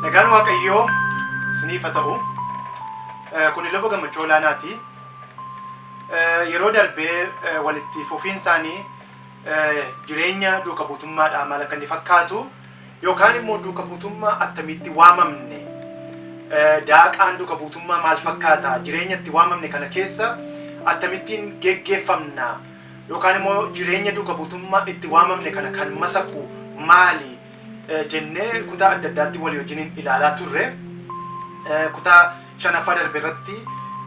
Nagaan Waaqayyoo isiniif haa ta'u. Eh, Kun ilma gammachuu olaanaati. Eh, Yeroo darbee eh, walitti fufiin isaanii eh, jireenya duuka buutummaadhaa maal akka inni fakkaatu Yookaan immoo duuka buutummaa attamiitti waamamne? Daaqaan duuka buutummaa maal fakkaata? Jireenya itti waamamne kana keessa attamittiin geggeeffamna? Yookaan immoo jireenya duuka buutummaa itti waamamne kana kan masaku maali? jennee kutaa adda addaatti walii wajjiniin ilaalaa turre. Kutaa shanaffaa darbe irratti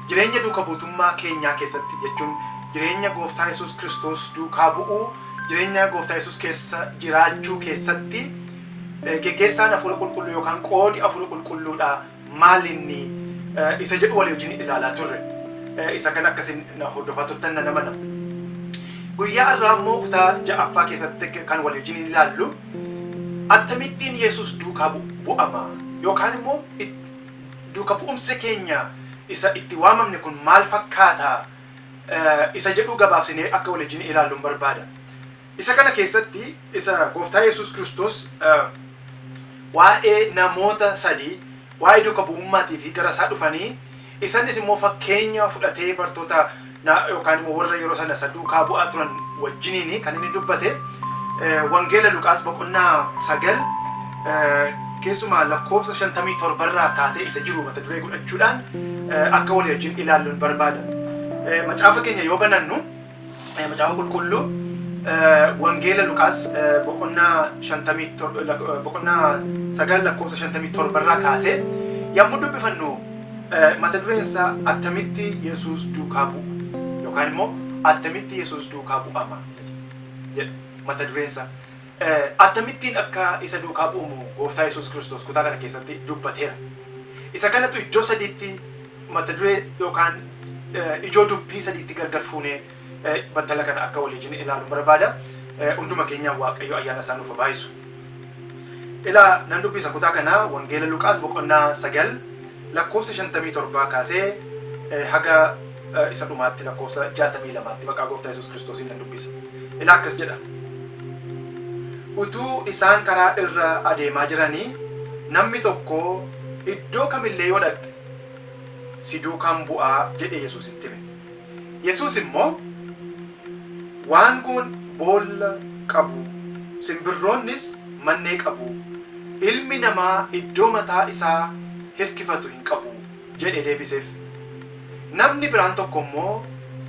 jireenya duuka buutummaa keenyaa keessatti jechuun jireenya gooftaa Yesuus Kiristoos duukaa bu'uu, jireenya gooftaa Yesuus keessa jiraachuu keessatti geggeessaan Hafuura Qulqulluu yookaan qoodi Hafuura Qulqulluudhaa maalinni isa jedhu walii wajjin ilaalaa turre. Isa kana akka isin na hordofaa turtan nan amana. Guyyaa har'aa immoo kutaa ja'affaa keessatti kan walii wajjin ilaallu attamittiin Yesuus duukaa bu'ama yookaan immoo Duuka bu'umsi keenya isa itti waamamne kun maal fakkaata? isa jedhuu gabaabsinee akka walijjin ilaallun barbaada. Isa kana keessatti isa Gooftaa Yesuus Kiristoos waa'ee namoota sadii waa'ee duuka bu'ummaatiifi gara isaa dhufanii isannis immoo fakkeenya fudhatee bartoota na yookaan immoo warra yeroo sana isa duukaa bu'aa turan wajjiniin kan inni dubbate wangeela Luqaas boqonnaa sagal keessumaa lakkoofsa shantamii torbarraa kaasee isa jiru mata duree godhachuudhaan akka walii wajjin ilaalluun barbaada. Macaafa keenya yoo banannu macaafa qulqulluu wangeela Luqaas boqonnaa shantamii boqonnaa sagal lakkoofsa shantamii torbarraa kaasee yommuu dubbifannu Eh, Mata dureen isaa attamitti Yesuus duukaa bu'u yookaan immoo attamitti Yesuus duukaa bu'ama jedha mata dureen isaa. Eh, Attamittiin akka isa duukaa bu'umu gooftaa Yesuus Kiristoos kutaa kana keessatti dubbateera. Isa kanatu iddoo sadiitti mata duree yookaan eh, ijoo dubbii sadiitti gargar fuunee battala kana akka walii jine ilaalu barbaada. Hunduma keenyaa Waaqayyo ayyaana isaa nuuf baayisu. Ilaa nan dubbisa kutaa kana Wangeela Luqaas boqonnaa sagal lakkoofsa shantamii torbaa kaasee haga isa dhumaatti lakkoofsa jaatamii lamaatti maqaa gooftaa Yesuus Kiristoosiin nan dubbisa. Ilaa akkas jedha. Utuu isaan karaa irra adeemaa jiranii namni tokko iddoo kamillee yoo dhaqxe si duukaan bu'aa jedhee Yesuusitti hime. Yesuus immoo, Waangoon boolla qabu, simbirroonnis mannee qabu, Ilmi Namaa iddoo mataa isaa hirkifatu hin qabu jedhee deebiseef. Namni biraan tokko immoo,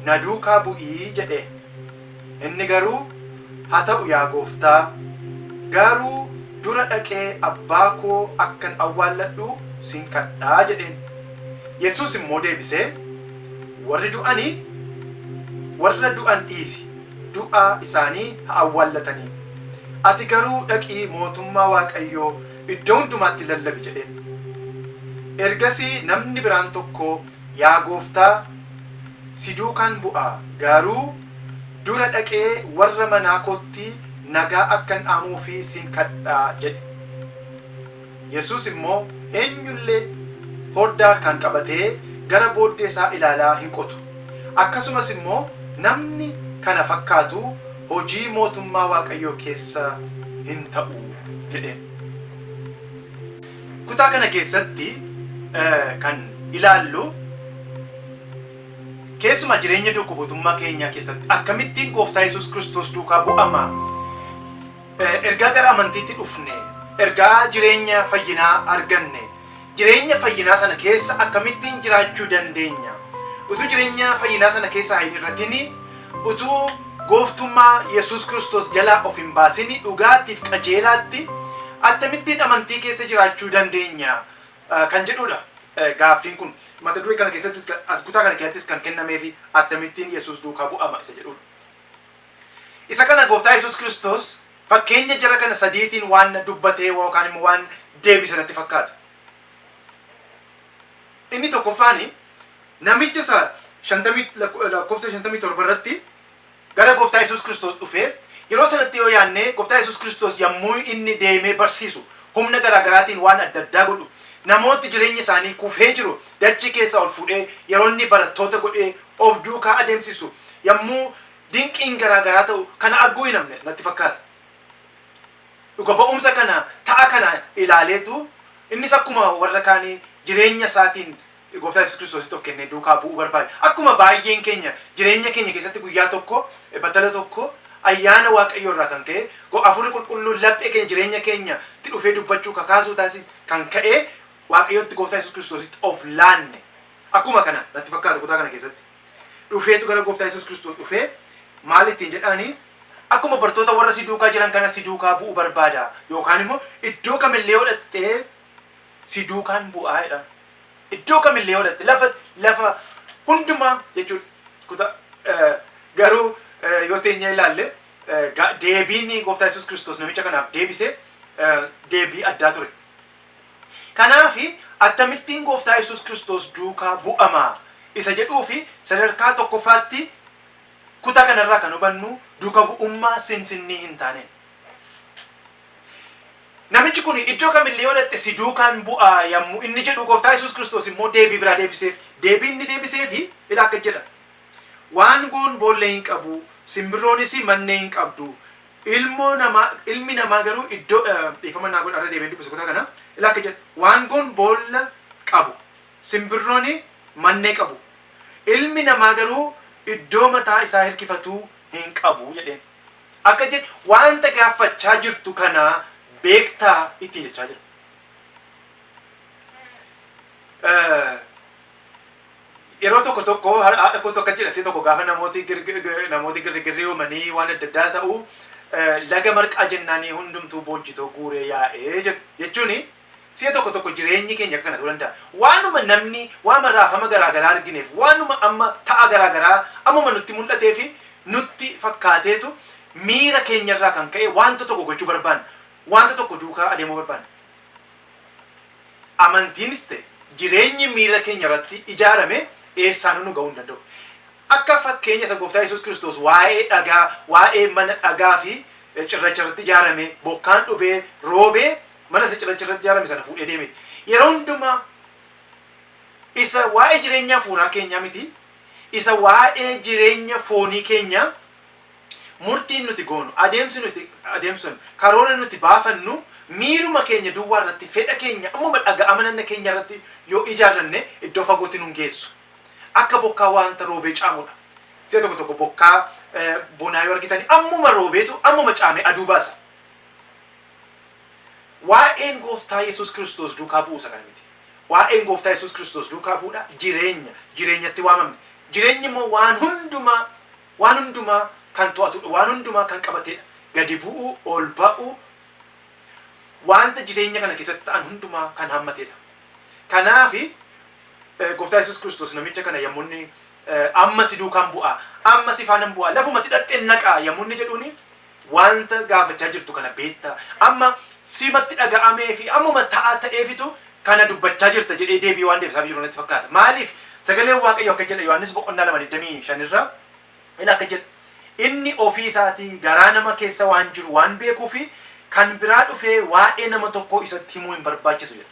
Na duukaa bu'i jedhee. Inni garuu, Haa ta'u yaa Gooftaa, gaaruu dura dhaqee abbaa koo akkan awwaalladhu sin kadha jedheen. Yesuus immoo deebisee, Warri du'ani warra du'an dhiisi, du'a isaanii haa awwaallatanii. Ati garuu dhaqii mootummaa Waaqayyoo iddoo hundumaatti lallabi jedheen. Ergasii namni biraan tokko Yaa Gooftaa, si duukaan bu'a, garuu dura dhaqee warra manaa kootti nagaa akkan dhaamuufi sin kadha jedhe. Yesuus immoo eenyullee horddaa harkaan qabatee gara booddee isaa ilaalaa hin qotu. Akkasumas immoo namni kana fakkaatu hojii mootummaa Waaqayyoo keessa hin ta'u jedheen. Kutaa kana keessatti kan ilaallu keessumaa jireenya duuka buutummaa keenyaa keessatti akkamittiin gooftaa Yesuus Kiristoos duukaa bu'ama ergaa gara amantiitti dhufne ergaa jireenya fayyinaa arganne jireenya fayyinaa sana keessa akkamittiin jiraachuu dandeenya utuu jireenya fayyinaa sana keessaa hin irratinii Utuu gooftummaa Yesuus Kiristoos jalaa of hin baasin dhugaatti fi qajeelaatti attamittiin amantii keessa jiraachuu dandeenya? kan jedhuu dha gaaffiin kun. Mata duree kana keessattis kan as kutaa kana keessattis kan kennameefi attamittiin Yesuus duukaa bu'ama isa jedhuu dha. Isa kana gooftaa Yesuus Kiristoos fakkeenya jara kana sadiitiin waan dubbatee yookaan immoo waan deebise natti fakkaata. Inni tokkoffaan namicha isa 50 lakko- eh, lakkoofsa 57 irratti gara gooftaa Yesuus Kiristoos dhufe yeroo sanatti yoo yaadne gooftaa Yesuus Kiristoos yommuu inni deemee barsiisu humna garaa garaatiin waan adda addaa godhu namooti jireenya isaanii kufee jiru dachii keessa ol fuudhee yeroo inni barattoota godhee of duukaa adeemsisu yommuu dinqiin garaa garaa ta'u kana arguu hin hafne natti fakkaata. Dhuga ba'umsa kana, ta'a kana ilaaleetu innis akkuma warra kaanii jireenya isaatiin Gooftaa Yesuus Kiristoositti of kennee duukaa bu'uu barbaade. Akkuma baay'een keenya jireenya keenya keessatti guyyaa tokko, battala tokko ayyaana Waaqayyoo irraa kan ka'e Hafuurri Qulqulluun laphee keenya jireenya keenya tti dhufee dubbachuu kakaasuu taasi kan ka'e Waaqayyotti Gooftaa Yesuus Kiristoositti of laanne. Akkuma kana natti fakkaata kutaa kana keessatti. dhufeetu gara gooftaa Yesuus Kiristoos dhufee maal ittiin jedhaani akkuma bartoota warra si duukaa jiran kana si duukaa bu'u barbaada yookaan immoo iddoo kamillee yoo dhaqxee si duukaan bu'aa jedha. Iddoo kamillee yoo dhaqxe lafa lafa hundumaa jechuudha. Kuta garuu yoo teenyee ilaalle deebiin gooftaa Yesuus Kiristoos namicha kanaaf deebise deebii addaa ture. Kanaaf, Attamittiin Gooftaa Yesuus Kiristoos Duukaa Bu'ama? isa jedhuuf sadarkaa tokkoffaatti kutaa kana irraa kan hubannu duuka bu'ummaa sinsinnii hin taaneen. Namichi kun iddoo kam illee yoo dhaqxe si duukaan bu'a yammu inni jedhu Gooftaa Yesuus Kiristoos immoo deebii biraa deebiseef. Deebii inni deebiseef ila akka jedha. Waangoon boolla hin qabu, simbirroonis mannee hin qabdu, Ilmoo namaa, ilmi namaa garuu iddoo, dhiifama naa godhaa irra deebi'een dubbisa kutaa kana, ilaa akka jedha, waangoon boolla qabu, simbirrooni mannee qabu, ilmi namaa garuu iddoo mataa isaa hirkifatuu hin qabu jedheen. Akka je, waanta gaaffachaa jirtu kana beektaa ittiin jechaa jira. Yeroo tokko tokko haadha kootu akka jedhasee tokko gaafa namooti namooti girrigirrii uumanii waan adda addaa ta'u laga marqaa jennaanii hundumtuu boojjitoo guuree yaa'ee jedhu jechuun si'a tokko tokko jireenyi keenya akka kana ta'uu danda'a. Waanuma namni waama raafama garaa garaa argineef waanuma amma ta'a garaa garaa ammuma nutti mul'atee fi nutti fakkaateetu miira keenyarraa kan ka'e wanta tokko gochuu barbaanna. Wanta tokko duukaa adeemuu barbaanna. Amantiinis ta'e jireenyi miira keenya irratti ijaarame eessaanuu nu ga'uu hin danda'u. Akka fakkeenya isa Gooftaa Yesuus Kiristoos waa'ee dhagaa, waa'ee mana dhagaa fi cirracha irratti ijaarame, bokkaan dhubee, roobee mana isa cirracha irratti ijaarame sana fuudhee deeme. Yeroo hundumaa isa waa'ee jireenya hafuuraa keenyaa miti, isa waa'ee jireenya foonii keenyaa Murtiin nuti goonu, adeemsi nuti adeemsifnu, karoora nuti baafannu miiruma keenya duwwaa irratti, fedha keenya ammuma dhaga'ama nanna keenya irratti yoo ijaarranne iddoo fagootti nun geessu. Akka bokkaa waanta roobee caamu dha. Si'a tokko tokko bokkaa bonaa yoo argitani ammuma roobeetu ammuma caamee aduu baasa. Waa'een Gooftaa Yesuus Kiristoos duukaa bu'uu isa kana miti. Waa'een Gooftaa Yesuus Kiristoos duukaa bu'uu dha, jireenya, jireenyatti waamamne. Jireenyi immoo waan hundumaa Waan hundumaa kan to'atudha. Waan hundumaa kan qabatedha. Gadi bu'uu, ol ba'uu, wanta jireenya kana keessatti ta'an hundumaa kan hammatedha. Kanaafi Gooftaa Yesuus Kiristoos namicha kana yommuu inni amma si duukaan bu'aa, amma si faanan bu'aa, lafuma ati dhaqxeen naqaa yommuu inni jedhuuni Wanta gaafachaa jirtu kana beekta. Amma simatti dhaga'amee fi ammuma ta'a ta'eefitu kana dubbachaa jirta jedhee deebii waan deebisaafii jiru natti fakkaata. Maaliif? Sagaleen Waaqayyoo akka jedha Yohaannis boqonnaa 2 25 irra ila akka jedha inni ofii isaatii garaa nama keessa waan jiru waan beekuufi kan biraa dhufee waa'ee nama tokkoo isatti himuu hin barbaachisu jedha.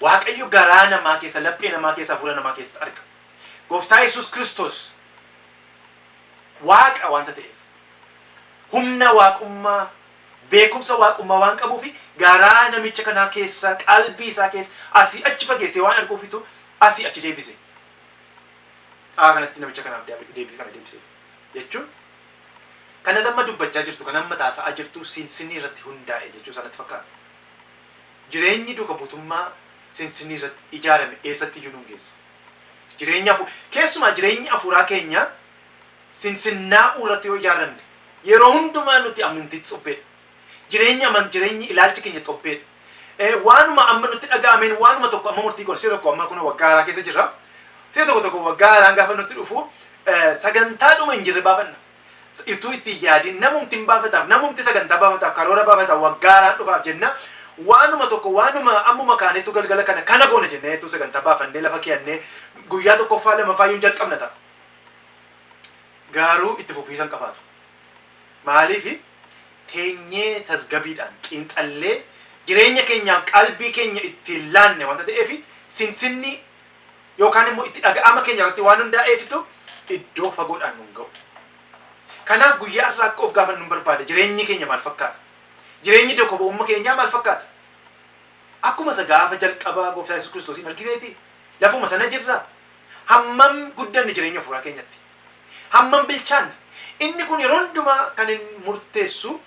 Waaqayyo garaa namaa keessa, laphee namaa keessa, hafuura namaa keessa arga. Gooftaa Yesuus Kiristoos Waaqa wanta ta'eef, humna Waaqummaa, beekumsa Waaqummaa waan qabuufi garaa namicha kanaa keessa, qalbii isaa keessa asii achi fageessee waan arguufitu asii achi deebise. Aa kanatti namicha kanaaf daabi deebii kana deebiseef. Jechuun kan ati amma dubbachaa jirtu, kan amma ati haasa'aa jirtu sinsinni irratti hundaa'e jechuu isaa natti fakkaata. Jireenyi duuka buutummaa sinsinni irratti ijaarame eessatti iyyuu nu hin geessu. Jireenya afu keessumaa jireenyi afuuraa keenya sinsinnaa'uu irratti yoo ijaaramne yeroo hundumaa nuti amntiitti xobbeedha. Jireenyi aman jireenyi ilaalchi keenya xobbeedha. Eh, waanuma amma nutti dhaga'ameen waanuma tokko amma murtii goona. Si'a tokko amma kunoo waggaa haaraa keessa jirra. Si'a tokko tokko waggaa haaraan gaafa nutti dhufu eh, sagantaa dhuma hin jirre baafanna. Ituu itti hin yaadin namumti hin baafataaf namumti sagantaa baafataaf karoora baafataaf waggaa haaraa dhufaaf jenna waanuma tokko waanuma ammuma kaanetu galgala kana kana goona jenneetu sagantaa baafannee lafa keeyannee guyyaa tokkoffaa lamaffaa yuun jalqabna ta'a gaaruu itti fufiisa hin qabaatu maaliif teenyee tasgabiidhaan xiinxallee jireenya keenyaaf qalbii keenya ittiin laanne wanta ta'eef sinsinni yookaan immoo itti dhaga'ama keenya irratti waan hundaa'eefitu iddoo fagoodhaan nun ga'u. Kanaaf guyyaa har'aa akka of gaafannu hin barbaada. Jireenyi keenya maal fakkaata? Jireenyi dokobo'umma keenyaa maal fakkaata? Akkuma isa gaafa jalqabaa gooftaa Yesuus Kiristoosiin argineeti? Lafuma sana jirra? Hammam guddanne jireenya hafuuraa keenyatti? Hammam bilchaanne? Inni kun yeroo hundumaa kan inni murteessu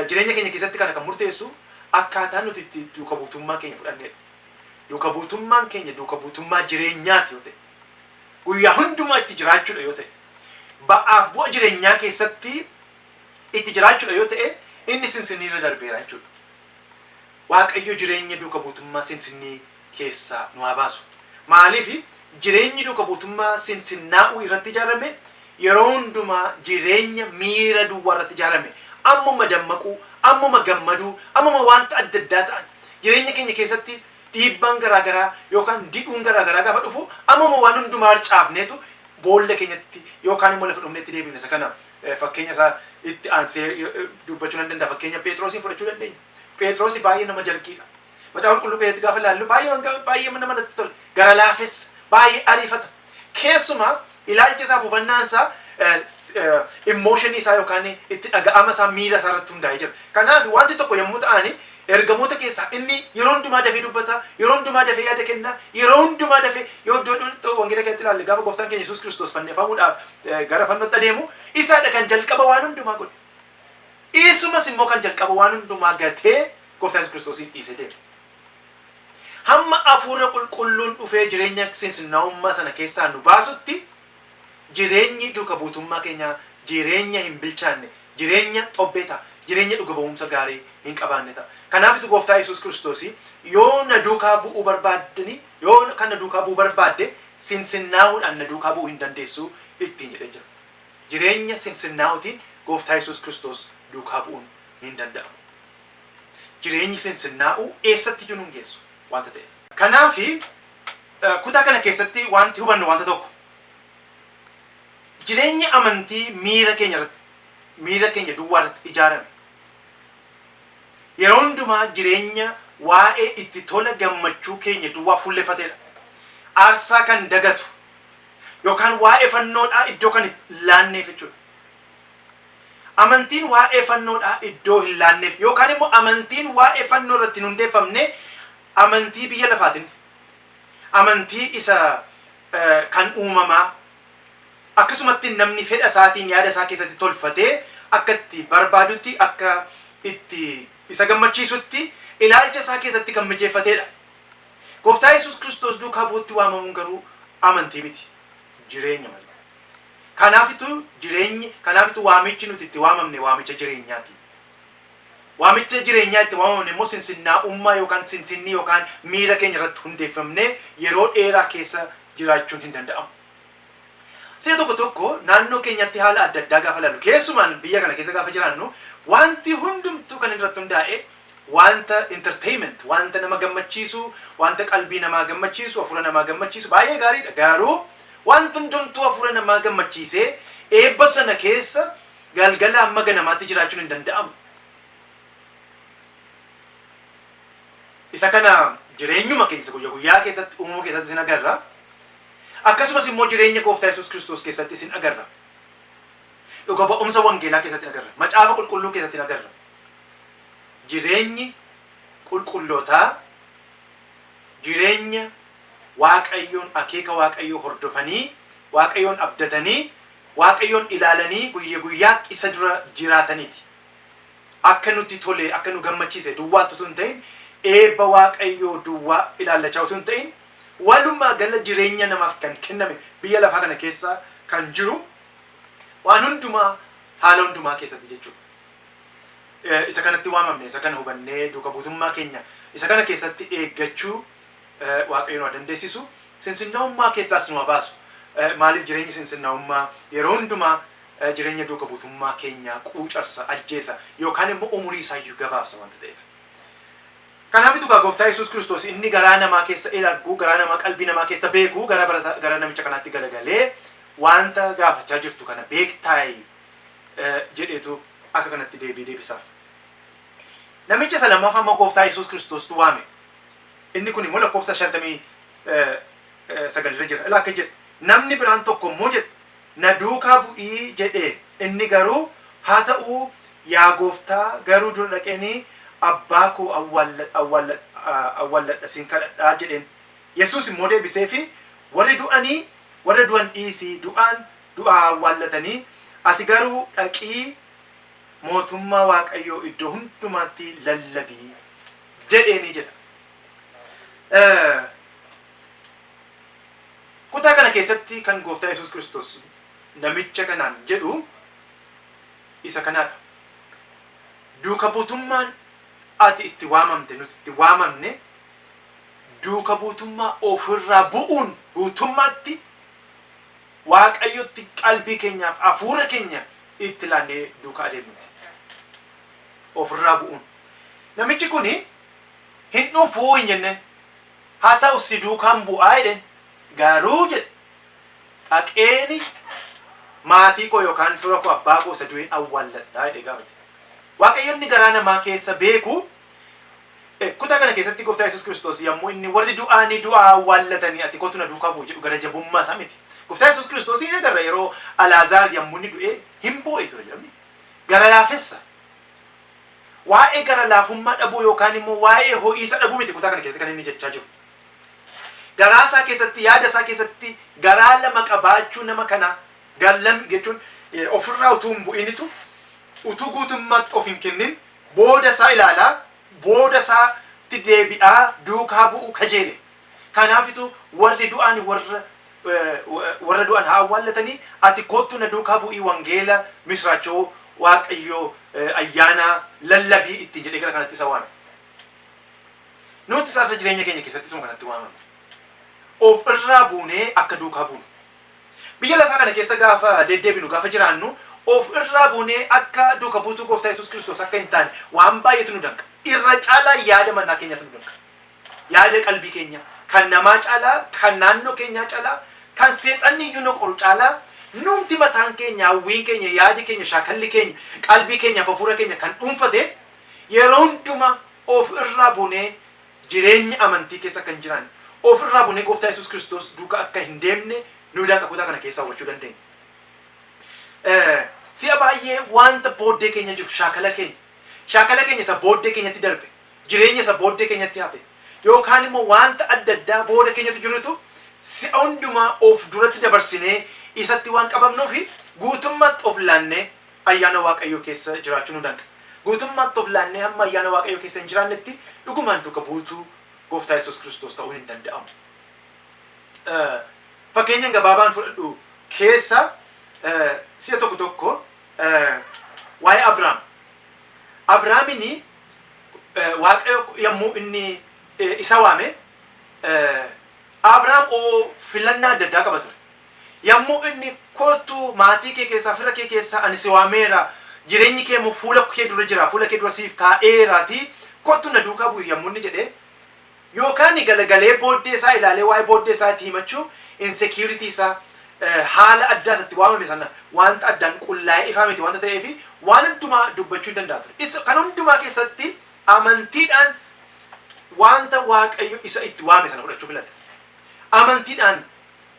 jireenya keenya keessatti kana kan murteessu akkaataa nuti itti duuka buutummaa keenya fudhanneedha. Duuka buutummaan keenya duuka buutummaa jireenyaati yoo ta'e, guyyaa hundumaa itti jiraachuudha yoo ta'e, ba'aaf bu'a jireenyaa keessatti itti jiraachuudha yoo ta'e, inni Sinsinnii irra darbeera jechuudha. Waaqayyo jireenya duuka buutummaa Sinsinnii keessaa nu haa baasu. Maaliif jireenyi duuka buutummaa Sinsinnaa'uu irratti ijaarame Yeroo hundumaa jireenya miira duwwaa irratti ijaarame, ammuma dammaquu, ammuma gammaduu, ammuma wanta adda addaa ta'an. Jireenya keenya keessatti dhiibbaan garaa garaa yookaan didhuun garaa garaa gaafa dhufu ammuma waan hundumaa harcaafneetu boolla keenyatti yookaan immoo lafa dhumneetti deebina. Isa kana fakkeenya isaa itti aansee dubbachuu nan danda'a. Fakkeenya Pheexiroosiin fudhachuu dandeenya. Pheexiroos baay'ee nama jarqiidha. Macaafa Qulqulluu keessatti gaafa ilaallu baay'ee wanga baay'ee nama natti tola. Gara laafessa, baay'ee ariifata. Keessumaa ilaalcha isaaf hubannaan isaa immooshinii isaa yookaan itti dhaga'ama isaa miira isaa irratti hundaa'ee jira. Kanaaf wanti tokko yommuu ta'ani ergamoota keessaa inni yeroo hundumaa dafee dubbata, yeroo hundumaa dafee yaada kenna, yeroo hundumaa dafee yoo iddoo iddoo wangeela keessatti ilaalle gaafa gooftaan keenya Yesuus Kiristoos fannifamuudhaaf eh, gara fannootti adeemu isaadha kan jalqaba waan hundumaa godhe. Dhiisumas immoo kan jalqaba waan hundumaa gatee Gooftaa Yesus Kiristoosiin dhiisee deeme. Hamma Hafuurra Qulqulluun dhufee jireenya sinsinnaa'ummaa sana keessaa nu baasutti jireenyi duuka buutummaa keenyaa jireenya hin bilchaanne, jireenya xobbee ta'a, jireenya dhuga ba'uumsa gaarii hin qabaanne ta'a. Kanaafitu Gooftaa Yesus Kiristoosiin yoo na duukaa bu'uu barbaaddanii, yoo kan na duukaa bu'uu barbaadde sinsinnaa'uudhaan na duukaa bu'uu hin dandeessuu ittiin jedhee jira. Jireenya sinsinnaa'ootiin Gooftaa Yesuus Kiristoos duukaa bu'uun hin danda'amu. Jireenyi sinsinnaa'uu eessatti iyyuu nun geessu wanta ta'eef. Kanaaf, kutaa kana keessatti wanti hubannu wanta tokko. Jireenyi amantii miira keenya irratti, miira keenya duwwaa irratti ijaarame. Yeroo hundumaa jireenya waa'ee itti tola gammachuu keenya duwwaa fuulleffatedha. Aarsaa kan dagatu. yookaan waa'ee fannoodhaa iddoo kan hin laanneef jechuudha. Amantiin waa'ee fannoodhaa iddoo hin laanneef yookaan immoo amantiin waa'ee fannoo irratti hin hundeeffamne amantii biyya lafaatiin, amantii isa kan uumamaa akkasumatti namni fedha isaatiin yaada isaa keessatti tolfatee akka itti barbaadutti akka itti isa gammachiisutti ilaalcha isaa keessatti kan mijeeffateedha. Gooftaa Yesuus Kiristoos duukaa bu'uutti waamamuun garuu amantii miti, jireenya malee. Kanaafitu jireenyi, kanaafitu waamichi nuti itti waamamne waamicha jireenyaati. Waamicha jireenyaa itti waamamne immoo sinsinnaa'ummaa yookaan sinsinnii yookaan miira keenya irratti hundeeffamnee yeroo dheeraa keessa jiraachuun hin danda'amu. Si'a tokko tokko naannoo keenyatti haala adda addaa gaafa ilaallu, keessumaan biyya kana keessa gaafa jiraannu, waanti hundumtuu kan inni irratti hundaa'e waanta entertainment, waanta nama gammachiisu, waanta qalbii namaa gammachiisu, hafuura namaa gammachiisu baay'ee gaariidha. Garuu waanti hundumtuu hafuura namaa gammachiisee eebba sana keessa galgalaa hamma ganamaatti jiraachuun hin danda'amu. Isa kana jireenyuma keenya isa guyya guyyaa keessatti uumama keessattis in agarra. Akkasumas immoo jireenya Gooftaa Yesuus Kiristoos keessatti isin agarra. Dhuga ba'umsa wangeelaa keessatti in agarra. Macaafa qulqulluu keessatti in agarra. Jireenyi qulqullootaa jireenya Waaqayyoon akeeka Waaqayyoo hordofanii, Waaqayyoon abdatanii, Waaqayyoon ilaalanii guyya guyyaatti isa dura jiraataniiti. Akka nutti tolee, akka nu gammachiise duwwaatti utuu hin ta'in, eebba Waaqayyoo duwwaa ilaallachaa utuu hin ta'in, Walumaa gala jireenya namaaf kan kenname biyya lafaa kana keessa kan jiru waan hundumaa haala hundumaa keessatti jechuudha. Isa kanatti waamamne, isa kana hubannee duuka buutummaa keenya isa kana keessatti eeggachuu Waaqayyo nu haa dandeessisu. Sinsinnaa'ummaa keessaas nu haa baasu. Maaliif jireenyi sinsinnaa'ummaa yeroo hundumaa jireenya duuka buutummaa keenyaa quucarsa, ajjeesa yookaan immoo umurii isaayyuu gabaabsa wanta ta'eef. Kanaafitu kaa Gooftaa Yesuus Kiristoos inni garaa namaa keessa il argu, garaa namaa qalbii namaa keessa beeku gara barata gara namicha kanaatti galagalee waanta gaafachaa jirtu kana beektaay? jedheetu akka kanatti deebii deebisaaf. Namicha isa lammaffaa immoo Gooftaa Yesuus Kiristoostu waame. Inni kun immoo lakkoofsa 59 irra jira. Ilaa akka jedhu namni biraan tokko immoo jedhe Na duukaa bu'i jedhe. Inni garuu, Haa ta'u, yaa Gooftaa, garuu dura dhaqeeni abbaa koo awwaalladha sin kadhadha jedheen. Yesuus immoo deebiseefii, Warri du'anii warra du'an dhiisi, du'aan du'a haa awwaallatanii, ati garuu dhaqii mootummaa Waaqayyoo iddoo hundumaatti lallabi jedheeni jedha. Kutaa kana keessatti kan Gooftaa Yesuus Kiristoos namicha kanaan jedhu isa kanaadha. Duuka buutummaan ati itti waamamte, nuti itti waamamne duuka buutummaa ofirraa bu'uun guutummaatti Waaqayyotti qalbii keenyaaf hafuura keenya itti laannee duuka adeemnuti. Ofirraa bu'uun. Namichi kuni hin dhufu hin jenneen. Haa ta'u si duukaan bu'aa jedheen. Garuu jedhe dhaqeeni maatii koo yookaan fira koo abbaa koo isa du'een awwaalladhaa jedhee gaafate. Waaqayyo inni garaa namaa keessa beeku kutaa kana keessatti gooftaa Yesuus Kiristoos yommuu inni warri du'aanii du'aa awwaallatanii ati kootu na duukaa bu'i jedhu gara jabummaa isaa miti. Gooftaa Yesuus Kiristoosiin ni agarra yeroo Alaazaar yommuu inni du'ee hin boo'e ture jedhamni. Gara laafessa. Waa'ee gara laafummaa dhabuu yookaan immoo waa'ee ho'iisa dhabuu miti kutaa kana keessatti kan inni jechaa jiru. Garaa isaa keessatti, yaada isaa keessatti garaa lama qabaachuu nama kanaa gar lam jechuun ofirraa utuu hin bu'initu utuu guutummaatti of hin kennin booda isaa ilaalaa booda isaatti deebi'aa duukaa bu'uu kajeele Kanaafitu warri du'aan warra warra du'an haa awwaallatanii ati koottu na duukaa bu'ii wangeela misraachoo waaqayyoo ayyaanaa lallabii ittiin jedhee gara kanatti isa waame. Nutis har'a jireenya keenya keessatti isuma kanatti waamamne. Of irraa buunee akka duukaa buunu. Biyya lafaa kana keessa gaafa deddeebinu gaafa jiraannu of irraa buunee akka duuka buutuu gooftaa Yesuus Kiristoos akka hin taane waan baay'eetu nu danqa. Irra caalaa yaada mataa keenyaatu nu danqa. Yaada qalbii keenyaa, kan namaa caalaa, kan naannoo keenyaa calaa, kan seexanni iyyuu nu qoru caalaa, nuumti mataan keenya, hawwiin keenya, yaadi keenya, shaakalli keenya, qalbii keenyaaf hafuura keenya kan dhuunfate, yeroo hundumaa of irraa bunee jireenya amantii keessa akka hin jiraanne, of irraa bunee Gooftaa Yesuus Kiristoos duuka akka hin deemne nu danqa kutaa kana keessaa hubachuu dandeenya. Si'a baay'ee wanta booddee keenya jiru, shaakala keenya, shaakala keenya isa booddee keenyatti darbe, jireenya isa booddee keenyatti hafe yookaan immoo wanta adda addaa booda keenyatti jirutu si'a hundumaa of duratti dabarsinee isatti waan qabamnuuf guutummaatti of laannee ayyaana Waaqayyoo keessa jiraachuu nu danqa. Guutummaatti of laannee hamma ayyaana Waaqayyoo keessa hin jiraannetti dhugumaan duuka buutuu Gooftaa Yesuus Kiristoos ta'uun hin danda'amu. Fakkeenyan gabaabaan fudhadhu keessa si'a tokko tokko waa'ee Abrahaam Abrahaamini Waaqayyo yommuu inni isa waame, Abrahaam filannaa adda addaa qaba ture. Yommuu inni koottu maatii kee keessaa, fira kee keessaa ani si waameera, jireenyi kee immoo fuula kee dura jira, fuula kee dura siif kaa'eeraatii koottu na duukaa bu'i yommuu inni jedhee Yookaan galagalee booddee isaa ilaalee waa'ee booddee isaa itti himachuu, insecurity isaa, haala addaa isa itti waamame sana wanta addaan qullaa'ee ifaa miti wanta ta'eef waan hundumaa dubbachuu hin danda'a ture. Isa kana hundumaa keessatti amantiidhaan wanta Waaqayyo isa itti waame sana fudhachuu filate. Amantiidhaan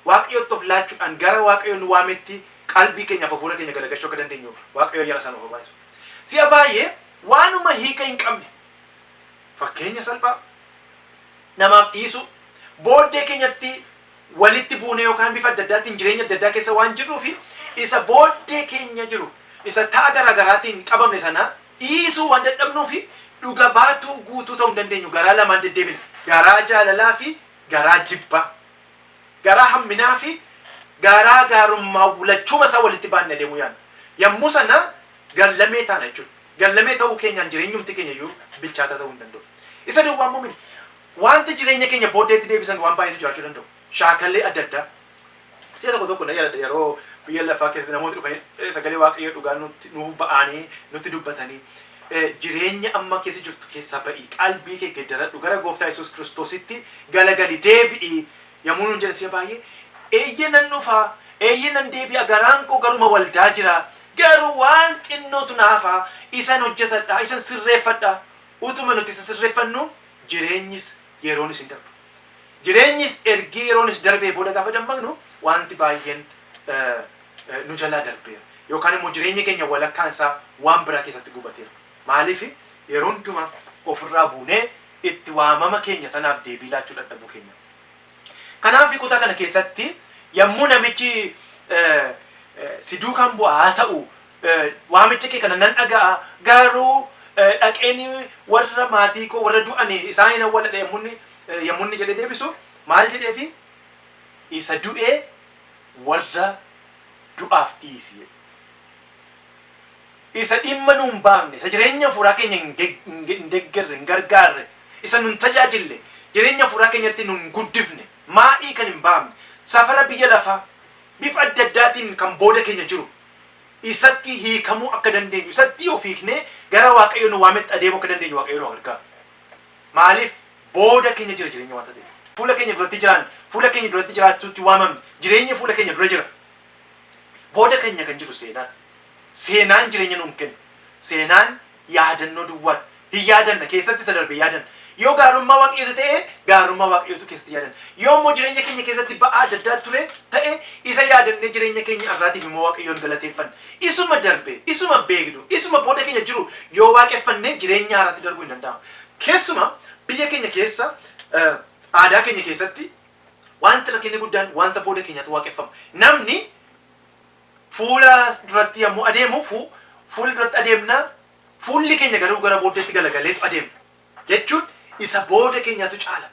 Waaqayyotti of laachuudhaan gara Waaqayyo nu waametti qalbii keenyaaf hafuura keenya garagachuu akka dandeenyu Waaqayyo ayyaana isaa nuuf haa baay'isu. Si'a baay'ee waanuma hiika hin qabne Fakkeenya salphaa, Namaaf dhiisuu, booddee keenyatti walitti buunee yookaan bifa adda addaatiin jireenya adda addaa keessa waan jirruufi isa booddee keenya jiru isa ta'a garaa garaatiin qabamne sana dhiisuu waan dadhabnuufi dhuga baatuu guutuu ta'uu hin dandeenyu garaa lamaan deddeebina garaa jaalalaafi garaa jibbaa garaa hamminaafi garaa gaarummaawlachuuma isaa walitti baanne adeemuu yaanna yommuu sana garlamee taana jechuudha. Gallamee ta'uu keenyaan jireenyumti keenya iyyuu bilchaataa ta'uu hin danda'u. Isa duwwaa immoo miti. Waanti jireenya keenya booddeetti deebisan waan baay'eetu jiraachuu danda'u. Shaakalli adda addaa. Si'a tokko tokko nan yaadadha yeroo biyya lafaa keessatti namooti dhufanii sagalee waaqayyoo dhugaa nutti nuu ba'anii nutti dubbatanii jireenya amma keessa jirtu keessaa ba'i qalbii kee geddaradhu gara gooftaa Yesuus Kiristoositti galagali deebi'i Yommuu nuun jedhe si'a baay'ee, Eeyyee nan dhufa, eeyyee nan deebi'a, garaan koo garuma waldaa jira, garuu waan xinnootu na hafa, isan hojjetadha, isan sirreeffadha. Utuma nuti isa sirreeffannuu jireenyis yeroonis hin darbu. Jireenyis ergii yeroonis darbee booda gaafa dammaqnu waanti baay'een nu jalaa darbeera. Yookaan immoo jireenya keenya walakkaan isaa waan biraa keessatti gubateera. Maaliif yeroo hundumaa of irraa buunee itti waamama keenya sanaaf deebii laachuu dhadhabuu keenya. Kanaaf kutaa kana keessatti yammuu namichi si duukaan bu'a haa ta'u waamicha kee kana nan dhaga'a garuu dhaqeen warra maatii koo warra du'an isaan hin awwaladha yammunni yammunni jedhee deebisu maal jedheefi isa du'ee warra du'aaf dhiisi jedhe. isa dhimma nu hin baafne, isa jireenya hafuuraa keenya hin deggerre, hin gargaarre, isa nu hin tajaajille, jireenya hafuuraa keenyatti nu hin guddifne, maa'ii kan hin baafne, safara biyya lafaa bifa adda addaatiin kan booda keenya jiru, isatti hiikamuu akka dandeenyu, isatti of hiiknee gara Waaqayyo nu waametti adeemuu akka dandeenyu Waaqayyo nu haa gargaaru. Maaliif? Booda keenya jira jireenya wanta ta'eef. Fuula keenya duratti jiraanne, fuula keenya duratti jiraachuutti waamamne, jireenyi fuula keenya dura jira. Booda keenya kan jiru seenaadha. Seenaan jireenya nuun kennu. Seenaan yaadannoo duwwaadha. Hin yaadanna, keessatti isa darbe yaadanna. Yoo gaarummaa Waaqayyoo ta'e, gaarummaa Waaqayyootu keessatti yaadanna. Yoo immoo jireenya keenya keessatti ba'aa adda addaa ture ta'e, isa yaadannee jireenya keenya har'aatiif immoo Waaqayyoon galateeffanna. Isuma darbe, isuma beeknu, isuma booda keenya jiru yoo waaqeffanne jireenya haaraatti darbuu hin danda'amu. Keessumaa biyya keenya keessa aadaa keenya keessatti Wanti rakkinni guddaan wanta booda keenyatu waaqeffama. Namni fuula duratti yommuu adeemu fuula duratti adeemna, fuulli keenya garuu gara booddeetti galagaleetu adeemna. Jechuun isa booda keenyatu caala.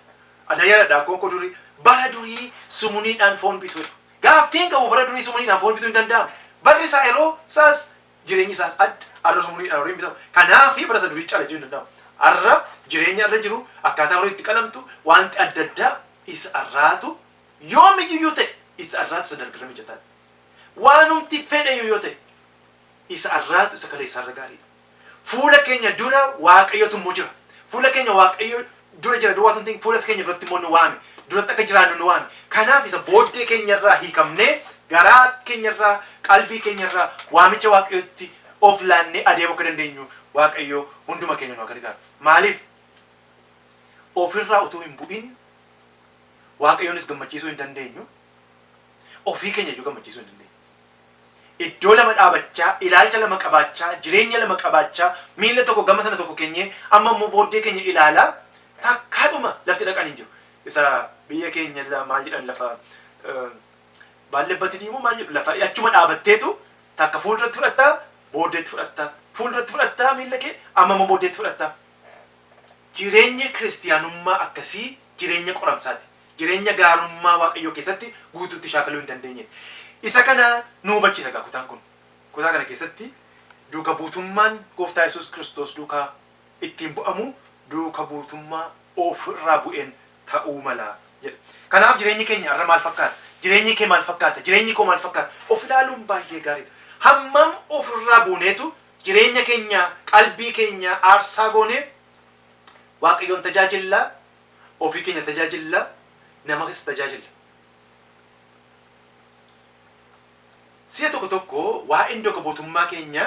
Ana yaadadha akkoon koo durii bara durii sumuniidhaan foon bitu jedhu. Gaaffiin qabu bara durii sumuniidhaan foon bituu hin danda'amu. Barri isaa yeroo isaas jireenyi isaas adda, arras umuriin dhaan horiin bitama, kanaafi bara isa durii cala jechuun hin danda'amu. Arra jireenya irra jiru, akkaataa horiin itti qalamtu, waanti adda addaa isa arraatu yoom iyyuu yoo ta'e isa arraatu isa dargirra mijataa dha. Waanumti fedhe iyyuu yoo ta'e isa arraatu isa kaleessaa irra gaarii dha. Fuula keenya dura Waaqayyotu immoo jira. Fuula keenya Waaqayyo dura jira duwwaa utuu hin ta'in fuula isa keenya duratti immoo nu waame. Duratti akka jiraannu nu waame. Kanaaf isa booddee keenya irraa hiikamnee garaa keenya irraa, qalbii keenya irraa waamicha Waaqayyootti of laannee adeemuu akka dandeenyu Waaqayyo hunduma keenya nu haa gargaaru. Maaliif? Of irraa utuu hin bu'in Waaqayyoonis gammachiisuu hin dandeenyu, ofii keenya iyyuu gammachiisuu hin dandeenyu. Iddoo lama dhaabachaa, ilaalcha lama qabaachaa, jireenya lama qabaachaa, miila tokko gama sana tokko keenyee, amma immoo booddee keenya ilaalaa takkaadhuma lafti dhaqan hin jiru. Isa biyya keenya silaa maal jedhan lafa baallebbatidii moo maal jedhu lafa achuma dhaabatteetu takka fuulduratti fudhattaa booddeetti fudhattaa fuulduratti fudhattaa miila kee amma immoo booddeetti fudhattaa. Jireenyi kiristiyaanummaa akkasii jireenya qoramsaati. jireenya gaarummaa Waaqayyoo keessatti guutuutti shaakaluu hin dandeenye dha. Isa kana nu hubachiisa egaa kutaan kun. Kutaa kana keessatti duuka buutummaan Gooftaa Yesuus Kiristoos duukaa ittiin bu'amu duuka buutummaa of irraa bu'een ta'uu mala jedha. Kanaaf jireenyi keenya har'a maal fakkaata? Jireenyi kee maal fakkaata? Jireenyi koo maal fakkaata? Of ilaaluun baay'ee gaarii dha. Hammam of irraa buuneetu jireenya keenya, qalbii keenya aarsaa goonee Waaqayyoon tajaajilla? Ofii keenya tajaajilla, namas tajaajilla. Si'a tokko tokko waa'een duuka buutummaa keenya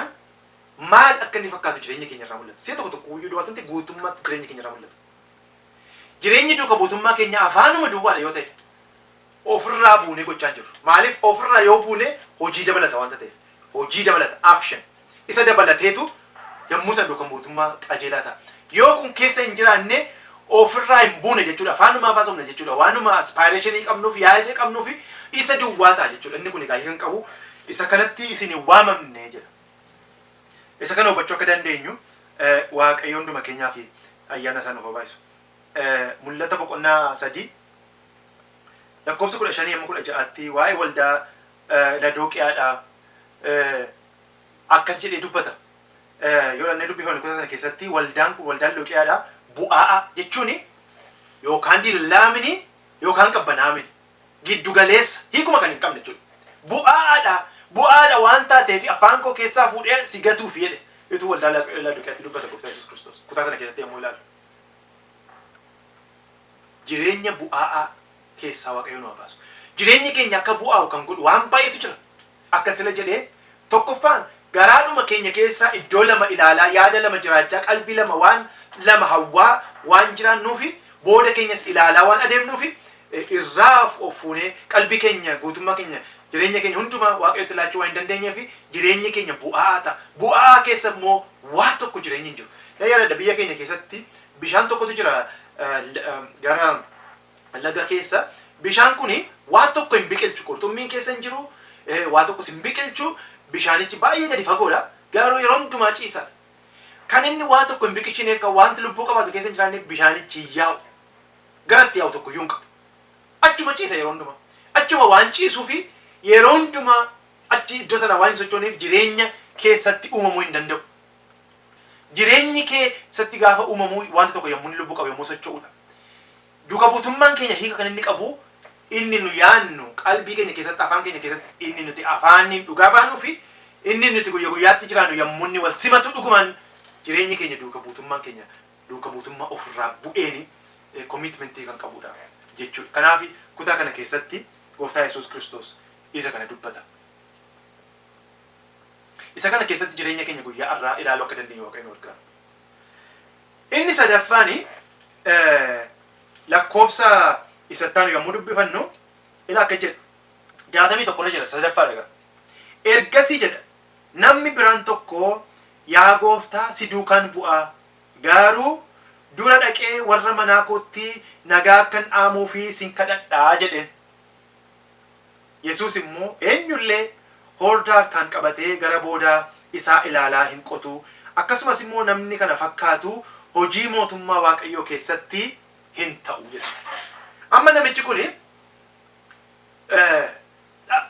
maal akka inni fakkaatu jireenya keenya irraa mul'ata. Si'a tokko tokko iyyuu duwwaatu miti guutummaatti jireenya keenya irraa mul'ata. Jireenyi duuka buutummaa keenyaa afaanuma duwwaadha yoo ta'e, ofirraa buunee gochaa jirru. Maaliif ofirraa yoo buune hojii dabalata wanta ta'eef. Hojii dabalata, action, isa dabalateetu yommuu sana duuka buutummaa qajeelaa ta'a. Yoo kun keessa hin jiraanne ofirraa hin buune jechuudha. Afaanumaaf haasofna jechuudha. Waanuma aspaayireeshinii qabnuuf, yaada qabnuuf isa duwwaa ta'a jechuudha. Inni kun egaa hiika hin qabu. Isa kanatti isin hin waamamne jedha. Isa kana hubachuu akka dandeenyu Waaqayyo hunduma keenyaaf ayyaana isaa nuuf haa baay'isu. Mul'ata boqonnaa 3. lakkoofsa 15-16tti waa'ee waldaa Ladooqiyaadhaa akkas jedhee dubbata. Yoo dhannee dubbifanne kutaa sana keessatti waldaan kun waldaa Ladooqiyaadhaa bu'aa'a jechuun yookaan dillaamini yookaan qabbanaa'amini giddu galeessa hiikuma kan hin qabne jechuudha. Bu'aa'aadha bu'aadha waan taateef afaan koo keessaa fuudhee si gatuuf jedhe utuu waldaa Ladooqiyaatti dubbata gooftaa Yesuus Kiristoos kutaa sana keessatti yommuu ilaalu. jireenya bu'aa'aa keessaa Waaqayyo nu haa baasu. Jireenyi keenya akka bu'aa'u kan godhu waan baay'eetu jira. Akkan sila jedhe tokkoffaan garaadhuma keenya keessaa iddoo lama ilaalaa, yaada lama jiraachaa, qalbii lama waan lama hawwaa waan jiraannuufi booda keenyas ilaalaa waan adeemnuufi eh, irraa of of fuunee qalbii keenya guutummaa keenya jireenya keenya hundumaa Waaqayyotti laachuu waan hin dandeenyeefi jireenyi keenya bu'aa'aa ta'a. Bu'aa'aa keessa immoo waa tokko jireenyi hin jiru. Na yaadadha biyya keenya keessatti Bishaan tokkotu jira gara laga keessa. Bishaan kuni waan tokko hin biqilchu. Qurxummiin keessa hin jiru. Waa tokkos hin biqilchu. Bishaanichi baay'ee gadi fagoodha. Garuu yeroo hundumaa ciisaadha. Kan inni waa tokko hin biqilchine akka wanti lubbuu qabaatu keessa hin jiraanne bishaanichi hin yaa'u. Gara itti yaa'u tokkoyyuu hin qabu. Achuma ciisa yeroo hundumaa. Achuma waan ciisuufi yeroo hundumaa achi iddoo sana waan hin sochooneef jireenya keessatti uumamuu hin danda'u. Jireenyi kee satti gaafa uumamu waanti tokko yommuu inni lubbu qabu yommuu socho'uudha. Duuka buutummaan keenya hiika kan inni qabu inni nu yaannu qalbii keenya keessatti afaan keenya keessatti inni nuti afaaniin dhugaa baanuu fi inni nuti guyya guyyaatti jiraannu yommuu inni wal simatu dhugumaan jireenyi keenya duuka buutummaan keenya duuka buutummaa ofirraa bu'eeni commitment kan qabuudha jechuudha. Kanaaf kutaa kana keessatti gooftaa Yesuus Kiristoos isa kana dubbata. Isa kana keessatti jireenya keenya guyyaa har'aa ilaaluu akka dandeenyu Waaqayyo nu gargaara. Inni sadaffaan lakkoofsa isa ittaanu yommuu dubbifannu ila akka jedhu jaatamii tokko irra jira sadaffaa dhagaa. Ergasii jedha namni biraan tokko yaa gooftaa si duukaan bu'aa garuu dura dhaqee warra manaa kootti nagaa akkan dhaamuu fi sin kadhadhaa jedheen. Yesuus immoo eenyu illee hoordaa harkaan qabatee gara boodaa isaa ilaalaa hin qotu, akkasumas immoo namni kana fakkaatu hojii mootummaa Waaqayyoo keessatti hin ta'u jedhe. Amma namichi kun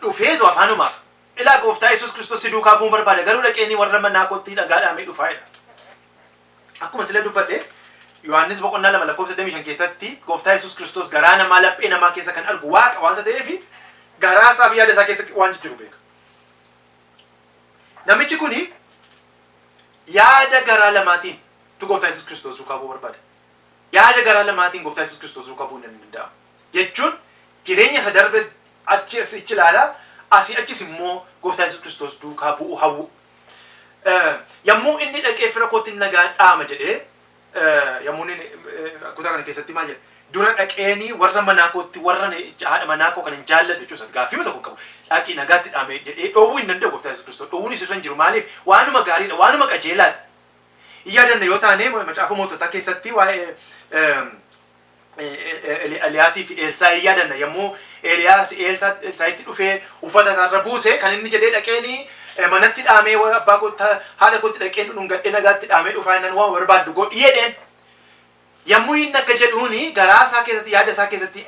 dhufeetu afaanumaaf ilaa gooftaa Yesuus Kiristoos si duukaa bu'uun barbaada garuu dhaqeenii warra manaa koottii dhagaadhaamee dhufaa jedha. Akkuma sila dubbadhe Yohaannis boqonnaa 2 lakkoofsa 25 keessatti gooftaa Yesuus Kiristoos garaa namaa laphee namaa keessa kan argu waaqa waanta ta'eef garaa isaa fi yaada isaa keessa waan jijjiru beeka. Namichi kun yaada garaa lamaatiin tu gooftaa Yesuus Kiristoos duukaa bu'uu barbaada. Yaada garaa lamaatiin gooftaa Yesuus Kiristoos duukaa bu'uu hin danda'amu. Jechuun jireenya isa darbes achi asichi ilaalaa asii achis immoo gooftaa Yesuus Kiristoos duukaa bu'uu hawwu. Yommuu inni dhaqee fira kootti nagaa dhaama jedhee yommuu inni kutaa kana keessatti maal jedhe dura dhaqeenii warra manaa kootti warra haadha manaa koo kan hin jaalladhu jechuun isaati gaaffii tokko qabu dhaqii nagaatti dhaame jedhee dhoowwuu hin danda'u gooftaa Yesuus Kiristoos dhoowwuun isirra hin jiru maaliif waanuma gaariidha waanuma qajeelaadha. Hin yaadanne yoo taane macaafa moototaa keessatti waa'ee Eliyaasii fi Eelsaa hin yaadanna yommuu Eliyaas Elsaa'itti dhufee uffata isaarra buuse kan inni jedhee dhaqeeni manatti dhaamee abbaa kootti haadha kootti dhaqeen dhungadhee nagaatti dhaamee dhufaa innan waan barbaaddu godhi jedheen. Yommuu inni akka jedhuuni garaa isaa keessatti yaada isaa keessatti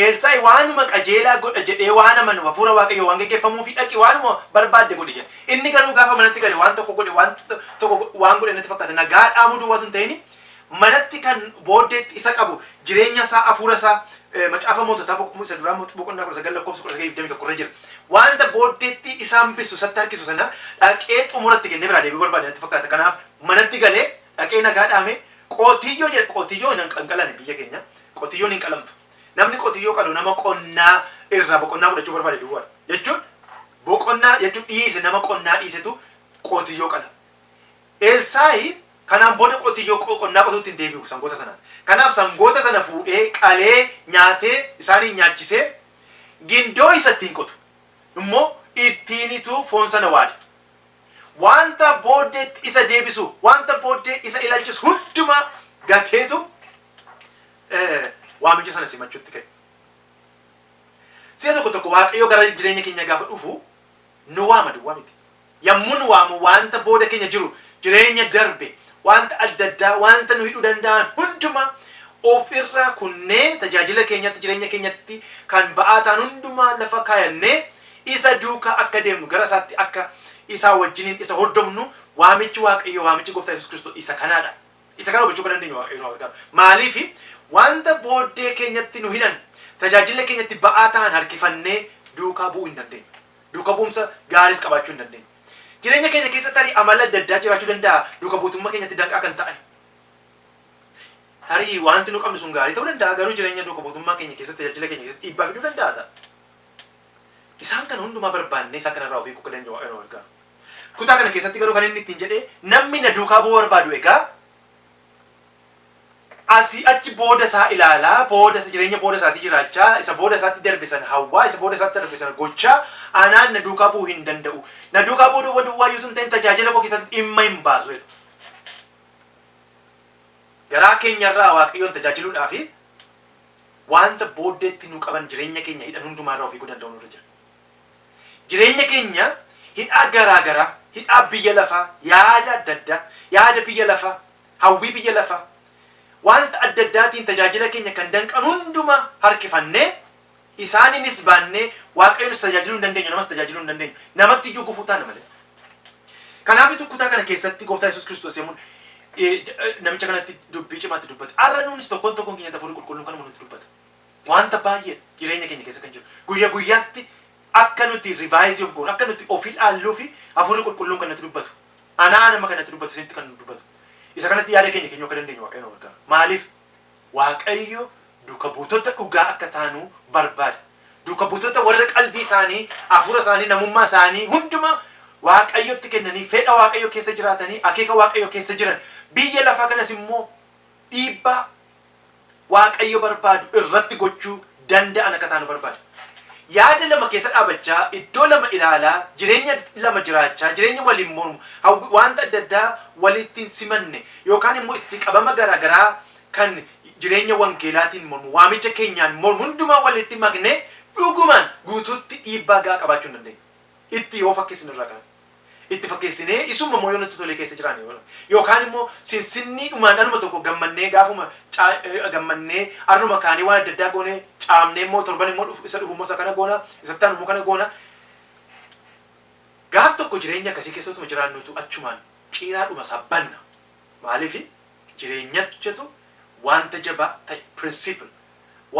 Elsaa'i waanuma qajeelaa godha jedhee waan amanu hafuura waaqayyoo waan geggeeffamuu fi dhaqi waanuma barbaadde godhi jedhe. Inni garuu gaafa manatti gale waan tokko godhe waan tokko waan godhe natti fakkaata nagaa dhaamuu duwwaa sun ta'ini manatti kan booddeetti isa qabu jireenya isaa afuura isaa macaafa moototaa boqonnaa isa duraa boqonnaa kudha sagal lakkoofsa kudha sagal digdamii tokko irra jira. Wanta booddeetti isa hambisu isatti harkisu sana dhaqee xumuratti kennee biraa deebi'uu barbaade natti fakkaata. Kanaaf manatti galee dhaqee nagaa dhaame qotiyyoo jedhe qotiyyoo hin qalane biyya keenya qotiyyoon hin qalamtu. Namni qotiyyoo qalu nama qonnaa irraa boqonnaa fudhachuu barbaade duwwaadha. Jechuun boqonnaa jechuun dhiise nama qonnaa dhiisetu qotiyyoo qala. Elsaa'i kanaan booda qotiyyoo qonnaa qotuutti hin deebi'u sangoota sanaan. Kanaaf sangoota sana fuudhee qalee nyaatee isaaniin nyaachisee gindoo isa ittiin qotu immoo ittiinitu foon sana waada. Wanta booddeetti isa deebisu, wanta booddee isa ilaalchisu hundumaa gateetu waamicha sana simachuutti ka'e. Si'a tokko tokko Waaqayyo gara jireenya keenya gaafa dhufu nu waama duwwaa miti. Yammun waamu waanta booda keenya jiru, jireenya darbe, waanta adda addaa, waanta nu hidhuu danda'an hundumaa of irraa kunnee tajaajila keenyatti, jireenya keenyatti kan ba'aa ta'an hundumaa lafa kaayannee Isa duukaa akka deemnu, gara Isaatti akka Isaa wajjiniin Isa hordofnu waamichi Waaqayyoo, waamichi Gooftaa Yesuus Kiristoos isa kanaa dha. Isa kana hubachuu akka dandeenyu Waaqayyo nu haa gargaaru. Maaliif waanta booddee keenyatti nu hidhan, tajaajila keenyatti ba'aa ta'an harkifannee duukaa bu'uu hin dandeenyu. duuka bu'umsa gaariis qabaachuu hin dandeenyu. Jireenya keenya keessa tarii amalli adda addaa jiraachuu danda'a duuka buutummaa keenyatti danqaa kan ta'an. Tarii wanti nu qabnu sun gaarii ta'uu danda'a garuu jireenya duuka buutummaa keenya keessatti tajaajila keenya keessatti dhiibbaa fiduu danda'a ta'a. Isaan kana hundumaa barbaannee isaan kanarraa of hiikuu akka dandeenyu Waaqayyo nu gargaara. Kutaa kana keessatti garuu kan inni ittiin jedhee namni na duukaa bu'uu barbaadu egaa Asii achi booda isaa ilaalaa, booda isa jireenya booda isaatii jiraachaa, isa booda isaatti darbe sana hawwaa, isa booda isaatti darbe sana gochaa, anaan na duukaa bu'uu hin danda'u. Na duukaa bu'uu duwwa duwwaa iyyuu utuu hin ta'in tajaajila koo keessatti dhimma hin baasu jedha. Garaa keenya irraa Waaqayyoon tajaajiluudhaa fi wanta booddeetti nu qaban jireenya keenya hidhan hundumaa irraa of eeguu danda'uun irra jira. Jireenya keenya hidhaa garaa garaa, hidhaa biyya lafaa, yaada adda addaa, yaada biyya lafaa, hawwii biyya lafaa, wanta adda addaatiin tajaajila keenya kan danqan hundumaa harkifannee, isaaniinis baannee Waaqayyonis tajaajiluu hin dandeenyu, namas tajaajiluu hin dandeenyu. Namatti iyyuu gufuu taana malee. Kanaafitu kutaa kana keessatti Gooftaa Yesuus Kiristoos yommuu namicha kanatti dubbii cimaa itti dubbate, har'a nuunis tokkoon tokkoon keenyatti Hafuurri Qulqulluun kanuma nutti dubbata. Wanta baay'eedha jireenya keenya keessa kan jiru. Guyya guyyaatti akka nuti revise of goonu, akka nuti of ilaalluufi Hafuurri Qulqulluun kan natti dubbatu. Anaa nama kan natti dubbatu isinitti kan dubbatu. Isa kanatti yaada keenya keenyuu akka dandeenyu Waaqayyo nu gargaara. Maaliif? Waaqayyo duuka buutota dhugaa akka taanu barbaada. Duuka buutota warra qalbii isaanii, hafuura isaanii, namummaa isaanii hundumaa Waaqayyotti kennanii, fedha Waaqayyoo keessa jiraatanii, akeeka Waaqayyoo keessa jiran, biyya lafaa kanas immoo Dhiibbaa Waaqayyo barbaadu irratti gochuu danda'an akka taanu barbaada. Yaada lama keessa dhaabachaa, iddoo lama ilaalaa, jireenya lama jiraachaa, jireenya waliin mormu, hawwii, wanta adda addaa walitti hin simanne, yookaan immoo itti qabama garaa garaa kan jireenya wangeelaatiin mormu, waamicha keenyaan mormu hundumaa walitti maknee dhugumaan guutuutti dhiibbaa ga'aa qabaachuu hin dandeenyu. Itti yoo fakkeessine irraa kanatti. itti fakkeessinee isumma immoo yoo nutti tolee keessa jiraanne yoo yookaan immoo sinsinnii dhumaan anuma tokko gammannee gaafuma gammannee arruma kaanee waan adda addaa goonee caamnee immoo torban immoo dhufu isa dhufu immoo isa kana goona isa taanu immoo kana goona gaaf tokko jireenya akkasii keessa utuma jiraannutu achumaan ciiraa dhuma isaa banna maaliif jireenyachatu wanta jabaa ta'e principle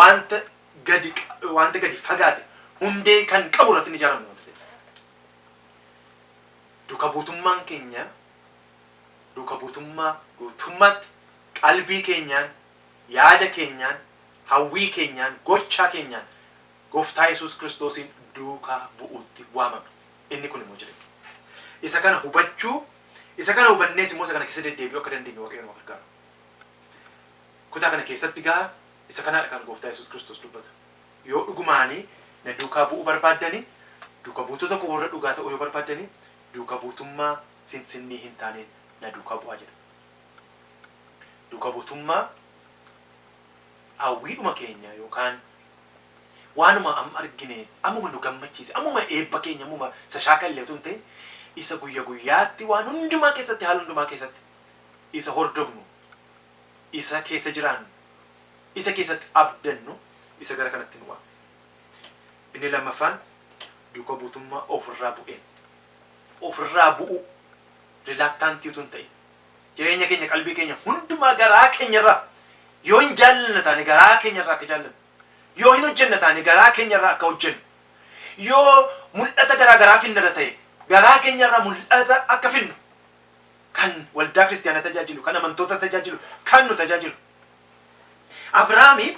wanta gadi wanta gadi fagaate hundee kan qabu irratti ni ijaaramu Duuka buutummaan keenya duuka buutummaa guutummaatti qalbii keenyaan, yaada keenyaan, hawwii keenyaan, gochaa keenyaan Gooftaa Yesuus Kiristoosiin duukaa bu'uutti waamamne. Inni kun immoo jireenya. Isa kana hubachuu, isa kana hubannees immoo isa kana keessa deddeebi'uu akka dandeenyu Waaqayyo nu haa gargaaru. Kutaa kana keessatti egaa isa kanaadha kan Gooftaa Yesuus Kiristoos dubbatu. Yoo dhugumaanii na duukaa bu'uu barbaaddani, duuka buutota koo warra dhugaa ta'uu yoo barbaaddani, duuka buutummaa sinsinnii hin taaneen na duukaa bu'aa jedha. Duuka buutummaa hawwiidhuma keenya yookaan waanuma amma argine, ammuma nu gammachiise, ammuma eebba keenya, ammuma isa shaakalle utuu hin ta'in, isa guyya guyyaatti waan hundumaa keessatti, haala hundumaa keessatti isa hordofnu isa keessa jiraannu, isa keessatti abdannu isa gara kanatti nu waame. Inni lammaffaan duuka buutummaa of irraa bu'een, of irraa bu'uu, reluctant utuu hin ta'in, jireenya keenya, qalbii keenya hundumaa garaa keenya irraa yoo hin jaallanna taane garaa keenya irraa akka jaallannu, yoo hin hojjenna taane garaa keenya irraa akka hojjennu, yoo mul'ata garaa garaa finnada ta'e garaa keenya irraa mul'ata akka finnu, kan waldaa kiristiyaana tajaajilu, kan amantoota tajaajilu, kan nu tajaajilu. Abrahaami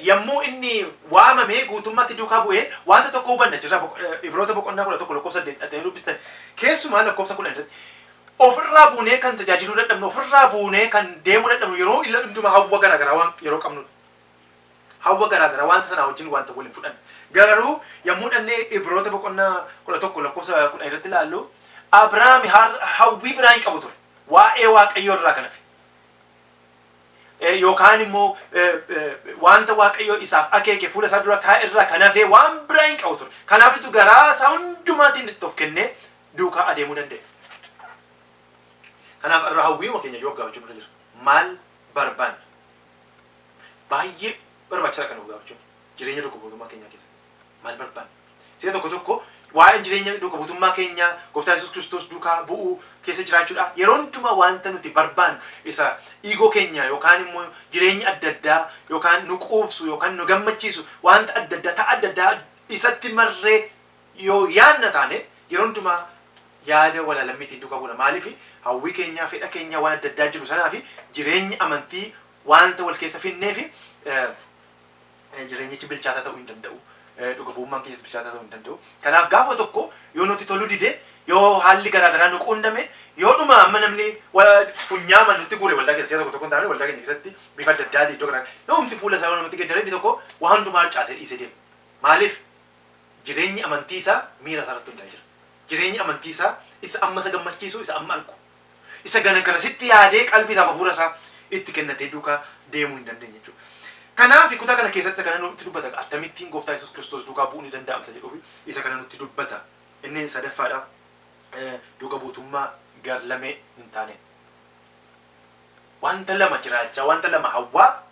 yommuu inni waamamee guutummaatti duukaa bu'ee wanta tokko hubanna jirra Ibroota boqonnaa kudha tokko lakkoofsa saddeet dhattanii dubbistan keessumaa lakkoofsa kudhan irratti ofirraa buunee kan tajaajiluu dadhabnu ofirraa buunee kan deemuu dadhabnu yeroo ila hundumaa hawwa garaagaraa waan yeroo qabnudha. Hawwa garaa garaa wanta sanaa wajjin wanta wal hin fudhanne. Garuu yommuu dhannee Ibroota boqonnaa 11 lakkoofsa 10 irratti ilaallu Abrahaam hawwii biraa hin qabu ture. Waa'ee Waaqayyoo irraa kan hafe. Yookaan immoo wanta Waaqayyoo isaaf akeeke fuula isaa dura kaa'e irraa kan hafee waan biraa hin qabu ture. Kanaafitu garaa isaa hundumaatiin itti of kennee duukaa adeemuu danda'e. Kanaaf irra hawwiima keenya yoo gaafachuu irra jira. Maal barbaanna? Baay'ee barbaachisaadha kana dhugaa jechuun jireenya duuka buutummaa keenyaa keessatti maal barbaanna? Sila tokko tokko waa'een jireenya duuka buutummaa keenyaa gooftaa Yesuus Kiristoos duukaa bu'uu keessa jiraachuudha. Yeroo hundumaa wanta nuti barbaannu isa iigoo keenya yookaan immoo jireenya adda addaa yookaan nu quubsu yookaan nu gammachiisu wanta adda addaa ta'a adda addaa isatti marree Yoo yaadna taane yeroo hundumaa yaada walaa lammii ittiin duukaa buuna. Maaliif? Hawwii keenya, fedha keenya waan adda addaa jiru sanaa fi jireenyi amantii waanta wal keessa fidneef jireenyichi bilchaataa ta'uu hin danda'u. Dhuga bu'ummaan keenyas bilchaataa ta'uu hin danda'u. Kanaaf gaafa tokko yoo nutti toluu dide, yoo haalli garaa garaa nu quunname, yoo dhuma amma namni funyaaman nutti guure waldaa keessa si'a tokko tokko hin taane waldaa keenya keessatti bifa adda addaatiin iddoo garaa garaa yoomti fuula isaa yoo namatti geddaree inni tokko waan hundumaa harcaasee dhiisee deema. Maaliif? Jireenyi amantii isaa miira isaa irratti hundaa'ee jira. Jireenyi amantii isaa isa amma isa gammachiisu, isa amma argu, isa ganagarasitti yaadee qalbii isaaf hafuura isaa itti kennatee duukaa deemuu hin dandeenye jechuudha. Kanaaf kutaa kana keessatti isa kana nutti dubbata egaa attamittiin gooftaa Yesuus Kiristoos duukaa bu'uun ni danda'ama isa jedhuuf isa kana nutti dubbata. Inni sadaffaadha duuka buutummaa garlamee hin taaneen. Wanta lama jiraachaa, wanta lama hawwaa,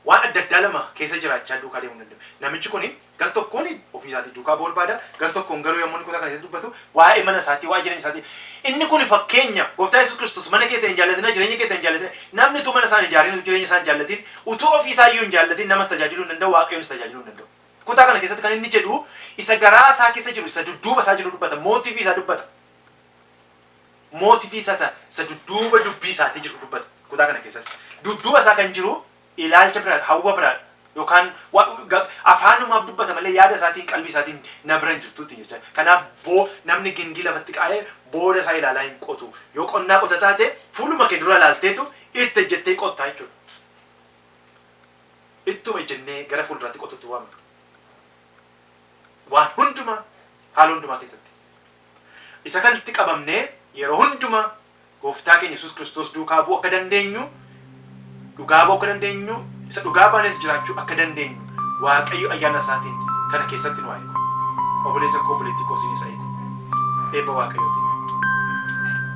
waan adda addaa lama keessa jiraachaa duukaa deemuu hin danda'u. Namichi kuni gar tokkoon ofii isaatii duukaa bu'uu barbaada, gar tokkoon garuu yommuu inni kutaa kana keessatti dubbatu waa'ee mana isaatii, waa'ee jireenya isaatii. Inni kuni fakkeenya Gooftaa Yesuus Kiristoos mana keessan hin jaallatinaa, jireenya keessan hin jaallatinaa. Namni utuu mana isaa hin ijaarin, utuu jireenya isaa hin jaallatin, utuu ofii isaa iyyuu hin jaallatin namas tajaajiluu hin danda'u, Waaqayyonis tajaajiluu hin danda'u. Kutaa kana keessatti kan inni jedhu isa garaa isaa keessa jiru, isa dudduuba isaa jiru dubbata, mootiifi isaa dubbata. mootifi isa isa isa dudduuba dubbii isaatii jiru dubbata. Kutaa kana keessatti dudduuba isaa kan jiru ilaalcha biraadha, hawwa biraadha yookaan wa- ga- afaanumaaf dubbata malee yaada isaatiin qalbii isaatiin na bira hin jirtu ittiin jechaa. Kanaaf boo namni gindii lafatti kaa'ee booda isaa ilaalaa hin qotu. Yoo qonnaa qota taate fuuluma kee dura ilaalteetu itti ejjettee qottaa jechuudha. Ittuma ejjennee gara fuulduraatti qotuutti waamna. Waan hundumaa haala hundumaa keessatti. Isa kanatti qabamnee yeroo hundumaa Gooftaa keenya Yesuus Kiristoos duukaa bu'uu akka dandeenyu, dhugaa ba'uu akka dandeenyu, isa dhugaa baanees jiraachuu akka dandeenyu Waaqayyo ayyaana isaatiin kana keessatti nu haa eegu. Oboleessa koo obboleettii koo isiniis haa eegu. Eebba Waaqayyootiin.